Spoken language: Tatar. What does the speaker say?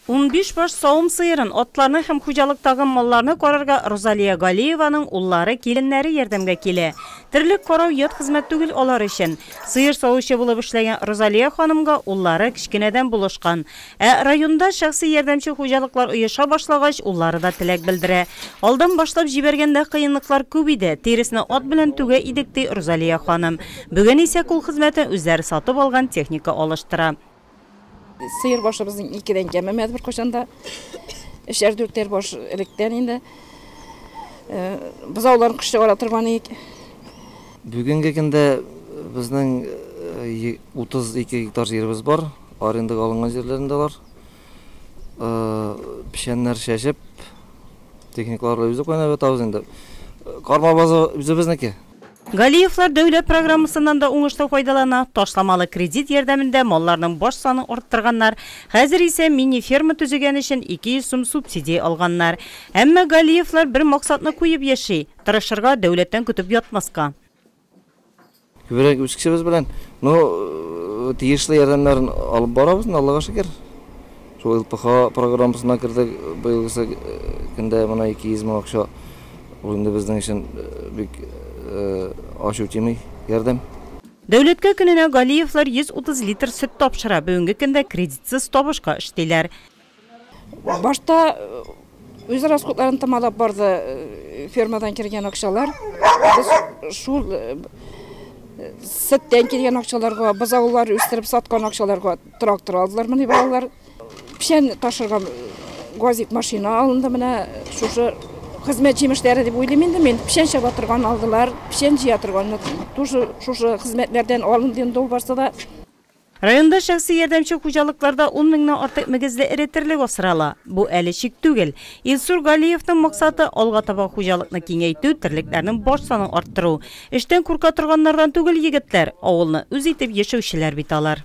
Унбиш баш савым сыерын, атларны һәм хуҗалыктагы малларны карарга Рузалия Галиеваның уллары, киленнәре ярдәмгә килә. Терлек карау ят хезмәт түгел алар өчен. Сыер савучы булып эшләгән Рузалия ханымга уллары кечкенәдән булышкан. Ә районда шәхси ярдәмче хуҗалыклар оеша башлагач, уллары да теләк белдерә. Алдан башлап җибәргәндә кыенлыклар күп иде, тиресне ат белән түгә идек, ди Рузалия ханым. Бүген исә кул хезмәтен үзләре сатып алган техника алыштыра. Сыер башыбызның икедән кәмемәде беркайчан да. Өчәр-дүртәр баш электән инде. Бозауларын кыш чыгара торган идек. Бүгенге көндә безнең 32 гектар җиребез бар. Арендага алынган җирләрендә алар. Печәннәр чәчеп, техникаларда үзе кайнап ятабыз инде. Карма базы үзебезнеке. Галиевлар дәүләт программасыннан да уңышлы файдалана, ташламалы кредит ярдәмендә малларның баш санын арттырганнар, хәзер исә мини-ферма төзегән өчен 200 сум субсидия алганнар. Әмма Галиевлар бер максатны куеп яши, тырышырга, дәүләттән көтеп ятмаска. Күбрәк үз кешебез белән, ну, тиешле ярдәмнәрен алып барабыз инде, Аллага шөкер. Шул ЛПХ программасына кердек. Быелгысы көндә менә 200 мең акча. Ул инде безнең өчен бик ач үтими ярдәм. Дәүләткә көненә Галиевлар 130 литр сөт тапшыра, бүгенге көндә кредитсыз табышка эшлиләр. Башта Үз расходларын томалап барды, фермадан кергән акчалар. Без шул сеттән килгән акчаларга, бозаулар үстереп саткан акчаларга трактор алдылар менә балалар. Печән ташырга газик машина алынды менә шушы хезмәт җимешләре дип уйлыйм инде мин. Печән чаба торган алдылар, печән җыя торган. Тоже шушы хезмәтләрдән алынды инде ул барсы да. Районда шәхси ярдәмче хуҗалыкларда ун меңнән артык мөгезле эре терлек асрала. Бу әле чик түгел. Илсур Галиевның максаты, алга таба хуҗалыкны киңәйтү, терлекләрнең баш санын арттыру. Эштән курка торганнардан түгел егетләр, авылны үз итеп яшәүчеләр бит алар.